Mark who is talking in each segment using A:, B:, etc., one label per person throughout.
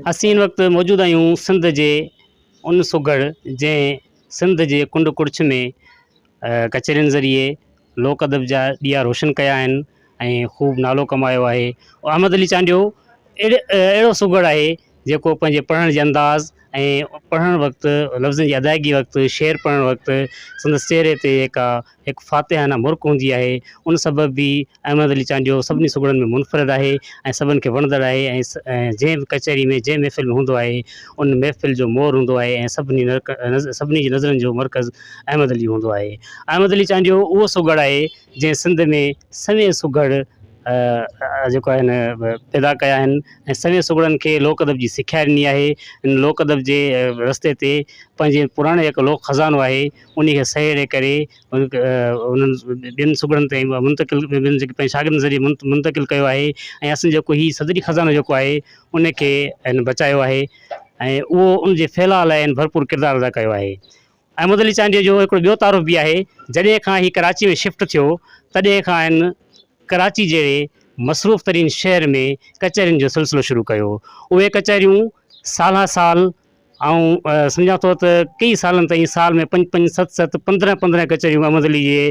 A: اسين ان وقت موجود آهيون سنڌ جي ان سگهڙ جنهن سنڌ جي ڪنڊ ڪڙڇ ۾ ڪچهرين ذريعي لوڪ ادب جا ڏيئا روشن ڪيا آهن ۽ خوب نالو ڪمايو آهي او احمد علي چانڊيو اهڙي اهڙو سگهڙ آهي جيڪو پنهنجي پڙهڻ جي انداز ۽ پڙهڻ وقت لفظن جي ادائگي وقت شعر پڙهڻ وقت سندس چهري تي جيڪا هڪ فاتحانه مرڪ هوندي آهي، ان سبب به احمد علي چانڊيو سڀني سگهڙن ۾ منفرد آهي ۽ سڀن کي وڻندڙ آهي ۽ جنهن به ڪچهري ۾ جنهن محفل ۾ هوندو آهي ان محفل جو مور هوندو آهي ۽ سڀني سڀني جي نظرن جو مرڪز احمد علي هوندو آهي. احمد علي چانڊيو اهو سگهڙ آهي جنهن سنڌ ۾ سوين سگهڙ جيڪو آهي نه پيدا ڪيا آهن ۽ سوين سگهڙن کي لوڪ ادب جي سکيا ڏني آهي ان لوڪ ادب جي رستي تي پنهنجي پراڻي هڪ لوڪ خزانو آهي انهيء کي سهيڙي ڪري انهن ٻين صوبڙن تائين منتقل ٻين جيڪي پنهنجي شاگردن ذريعي منتقل ڪيو آهي ۽ اسين جيڪو هي صدري خزانو جيڪو آهي ان کي ان بچايو آهي ۽ اهو ان جي ڦهلاء لاء ان ڀرپور ڪردار ادا ڪيو آهي. احمد علي چانڊيو جو هڪڙو ٻيو تعارف به آهي، جڏهن کان هي ڪراچي ۾ شفٽ ٿيو تڏهن کان هن ڪراچي جهڙي مصروف ترين شهر ۾ ڪچهرين جو سلسلو شروع ڪيو. اهي ڪچهريون سالها سال آئون سمجهان ٿو ته ڪيئي سالن تائين سال ۾ پنج پنج ست ست پندرهن پندرهن ڪچهريون احمد علي جي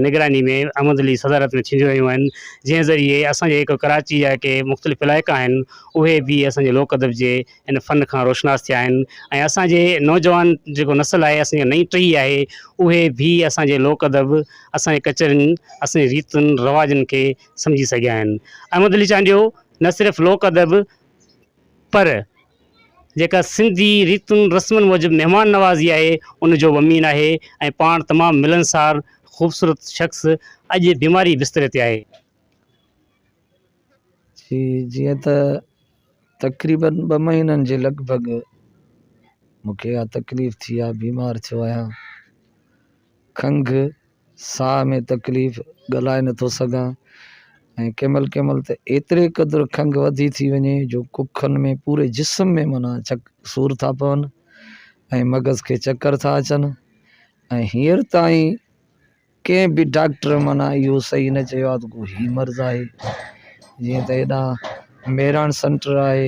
A: نگراني ۾ احمد علي جي صدارت ۾ ٿينديون رهيون آهن جنهن ذريعي اسان جي جيڪو ڪراچي جا ڪي مختلف علائقا آهن اهي به اسان جي لوڪ ادب جي ان فن کان روشناس ٿيا آهن ۽ اسان جي نوجوان جيڪو نسل آهي اسان جي نئين ٽهي آهي اهي به اسان جي لوڪ ادب اسان جي ڪچهرين اسان جي ريتن رواجن کي سمجهي سگهيا آهن احمد علي چانڊيو نه صرف لوڪ ادب پر جيڪا سنڌي ريتن رسمن موجب مهمان نوازي آهي ان جو ومين آهي ۽ پاڻ تمام ملنسار خوبصورت شخص اڄ بيماري بستري تي آهي.
B: جي جيئن ته تقريباً ٻه مهينن جي لڳ ڀڳ مونکي اها تڪليف ٿي آهي بيمار ٿيو آهيان کنگهه ساهه ۾ تڪليف، ڳالهائي نه ٿو سگهان ۽ ڪنهن مهل ڪنهن مهل ته ايتري قدر کنگهه وڌي ٿي وڃي جو ڪکن ۾ پوري جسم ۾ معنيٰ چڪ سور ٿا پون ۽ مغز کي چڪر ٿا اچن ۽ هينئر تائين ڪنهن به ڊاڪٽر معنيٰ اهو صحيح نه چيو آهي ته ڪو هي مرض آهي جيئن ته هيڏانهن ميراڻ سينٽر آهي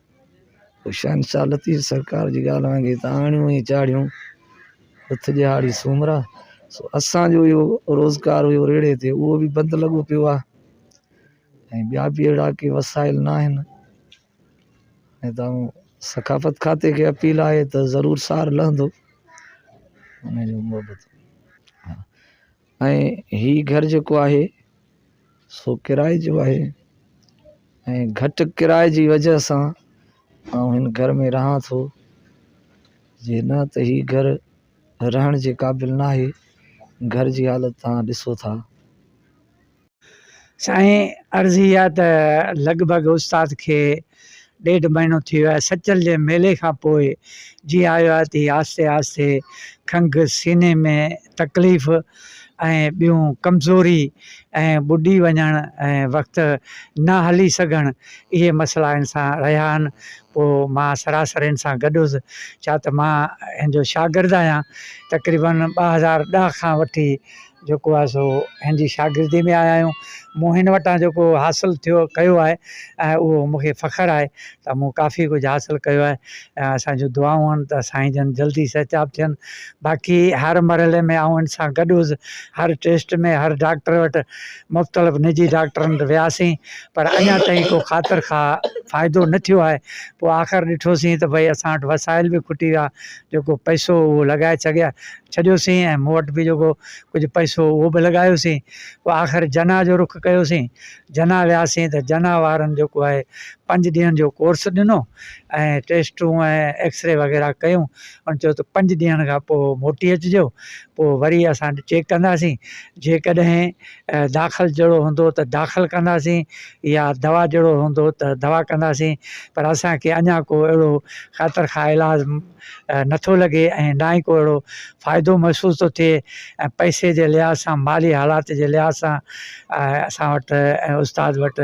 B: هوشيان شاهه لطيف سرڪار جي ڳالهه وانگي ته آڻيون ۽ چاڙهيون هٿ ڏيهاڙي سومرا سو اسان جو اهو روزگار هيو ريڙهي تي اهو به بند لڳو پيو آهي ۽ ٻيا به اهڙا ڪي وسائل نه آهن ۽ تائو ثقافت کاتي کي اپيل آهي ته ضرور سار لهندو ان جو محبت ۽ هي گهر جيڪو آهي سو ڪرائي جو آهي ۽ گهٽ ڪرائي جي وجه سان آئون هن گهر ۾ رهان ٿو جي نه ته هي گهر رهڻ جي قابل ناهي گهر جي حالت تهان ڏسو ٿا
C: سائين عرض اھي آ ته لڳ ڀڳ استاد کي ڏيڍ مھينو ٿي ويو آھي سچل جي ميلي کان پوء جيئن آيو آھي ته ھي آھستي آھستي کنگھ سيني ۾ تڪليف ۽ ٻيون ڪمزوري ۽ ٻڏي وڃڻ ۽ وقت نه ھلي سگھڻ اھي مسئلا ھن سان رھيا آھن پوء مان سراسر ھن سان گڏ ھوس ڇا ته مان ھن جو شاگرد آھيان تقريبن ٻه ھزار ڏھ کان وٺي جيڪو آهي سو هن جي شاگردي ۾ آيا آهيون مون هن وٽان جيڪو حاصل ٿيو ڪيو آهي ۽ اهو مون کي فخر آهي ته مون ڪافي ڪجهه حاصل ڪيو آهي ۽ اسان جون دعائون آهن ته سائين جن جلدي صحتياب ٿين باقي هر مرحلي ۾ آئون هن سان گڏ هوس هر ٽيسٽ ۾ هر ڊاڪٽر وٽ مختلف نجي ڊاڪٽرن وٽ وياسين پر اڃا تائين ڪو خاطر خواهه فائدو نه ٿيو آهي پوء آخر ڏٺوسين ته ڀئي اسان وٽ وسائل به کٽي ويا جيڪو پئسو هو اهو لڳائي ڇڏيا ڇڏيوسين ۽ مون وٽ به جيڪو ڪجهه پئسو هو اهو به لڳايوسين پوء آخر جناح جو رخ ڪيوسين جناح وياسين ته جناح وارن جيڪو آهي پنج ڏينهن جو ڪورس ڏنو ۽ ٽيسٽون ۽ ايڪسري وغيره ڪيون ان چيو ته پنج ڏينهن کان پوء موٽي اچجو پوء وري اسان چيڪ ڪنداسين جيڪڏهن داخل جهڙو هوندو ته داخل ڪنداسين يا دوا جهڙو هوندو ته دوا ڪنداسين پر اسان کي اڃا ڪو اهڙو خاطر خواهه علاج نٿو لڳي ۽ نه ئي ڪو اهڙو فائدو محسوس ٿو ٿئي ۽ پئسي جي لحاظ سان مالي حالات جي لحاظ سان اسان وٽ ۽ استاد وٽ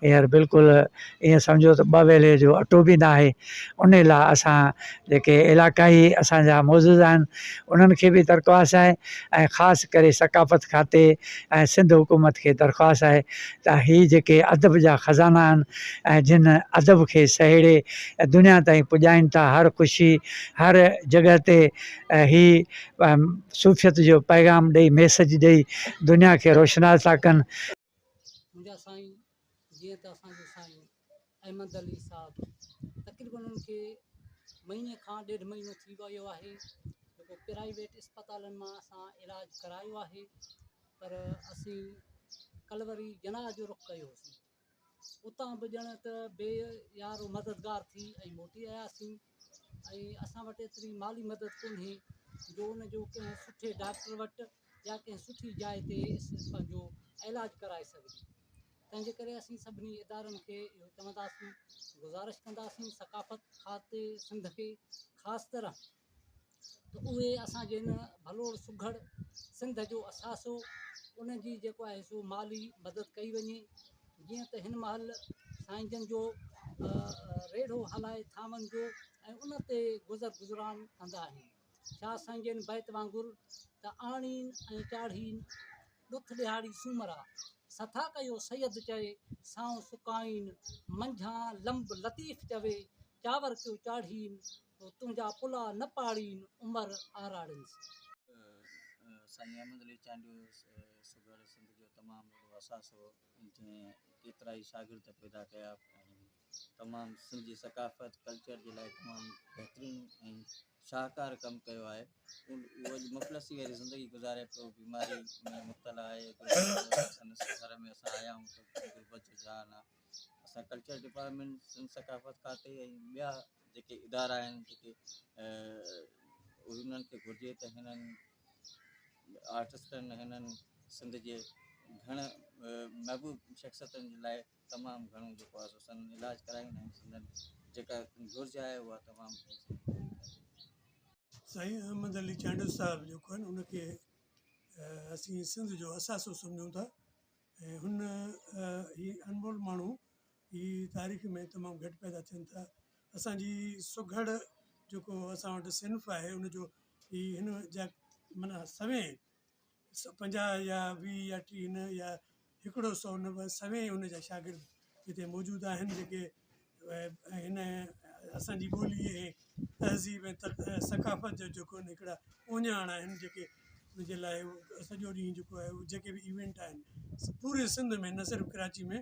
C: هينئر بلڪل ايئن سمجهو ته ٻه ويلي جو اٽو به ناهي انهي لاء اسان جيڪي علاقائي اسان جا معزز آهن انهن کي به درخواست آهي ۽ خاص ڪري ثقافت کاتي ۽ سنڌ حڪومت کي درخواست آهي ته هي جيڪي ادب جا خزانا آهن ۽ جن ادب کي سهيڙي دنيا تائين پڄائين ٿا هر خوشي هر جڳهه تي هي صوفيت جو پيغام ڏئي ميسج ڏئي دنيا کي روشناس ٿا ڪن منهنجا
D: سائين جيئن ته اسان جو سائين احمد علي صاحب تقريبن ان کي مهيني کان ڏيڍ مهينو ٿي ويو آهي جيڪو پرائيويٽ اسپتالن مان اسان علاج ڪرايو آهي پر اسين ڪل وري جناح جو رخ ڪيوسين اتان به ڄڻ ته بي يارو مددگار ٿي ۽ موٽي آياسين ۽ اسان وٽ ايتري مالي مدد ڪونهي جو ان جو ڪنهن سٺي ڊاڪٽر وٽ يا ڪنهن سٺي جاء تي پنهنجو علاج ڪرائي سگهجي تنهن جي ڪري اسين سڀني ادارن کي اهو چونداسين گذارش ڪنداسين ثقافت کاتي سنڌ کي خاص طرح ته اهي اسان جي هن ڀلوڙ سگهڙ سنڌ جو اثاثو ان جي جيڪو آهي سو مالي مدد ڪئي وڃي جيئن ته هن مهل سائين جن جو ريڙهو هلائي ٿانون جو ۽ ان تي گذر گذران ڪندا آهن شاهه سائين جن بيت وانگر ته آڻين ۽ چاڙهين ڏٿ ڏيهاڙي سومرا سٿا ڪيو سيد چئي سائو سڪائين منجهان لمب لطيف چوي چاور ڪيو چاڙهين هو تنهنجا پلا نه پاڙين عمر آراڙين سان.
E: سائين احمد علي چانڊيو سگهڙ سنڌ جو تمام وڏو اثاثو هو جنهن ڪيترائي شاگرد پيدا ڪيا ۽ تمام سنڌ جي ثقافت ڪلچر جي لاء تمام بهترين ۽ شاهڪار ڪم ڪيو آهي اهو اڄ مفلسي واري زندگي گذاري پيو بيماري ۾ مبتلا آهي سندس گهر ۾ اسان آيا آهيون ته غربت جو جهان آهي اسان ڪلچر ڊپارٽمينٽ سنڌ ثقافت کاتي ۽ ٻيا جيڪي ادارا آهن جيڪي انهن کي گهرجي ته هنن آرٽسٽن هنن سنڌ جي گهڻ محبوب شخصيتن جي لاء تمام گهڻو جيڪو آهي سو سندن علاج ڪرايون ۽ سندن جيڪا گهرج آهي اها تمام
F: سائين احمد علي چانڊيو صاحب جيڪو آهي ان کي اسين سنڌ جو اثاثو سمجهون ٿا ۽ هن هي انمول ماڻهو هي تاريخ ۾ تمام گهٽ پيدا ٿين ٿا. اسان جي سگهڙ جيڪو اسان وٽ صنف آهي ان جو هي هن جا معنيٰ سوين پنجاهه يا ويهه يا ٽيهه نه يا هڪڙو سو نه بس سوين ان جا شاگرد هتي موجود آهن جيڪي هن اسان جي ٻولي ۽ تهذيب ۽ ثقافت جو جيڪو ان هڪڙا اونياڻ آهن جيڪي ان جي لاء سڄو ڏينهن جيڪو آهي جيڪي بي ايونٽ آهن پوري سنڌ ۾ نه صرف ڪراچي ۾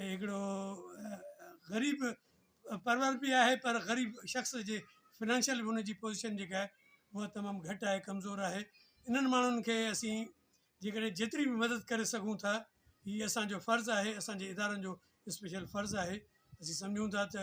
F: هي هڪڙو غريب پرور به آهي پر غريب شخص جي فنانشل ان جي پوزيشن جيڪا آهي اها تمام گهٽ آهي ڪمزور آهي انهن ماڻهن کي اسين جيڪڏهن جيتري به مدد ڪري سگهون ٿا هي اسانجو فرض آهي اسانجي ادارن جو اسپيشل فرض آهي اسين سمجهون ٿا ته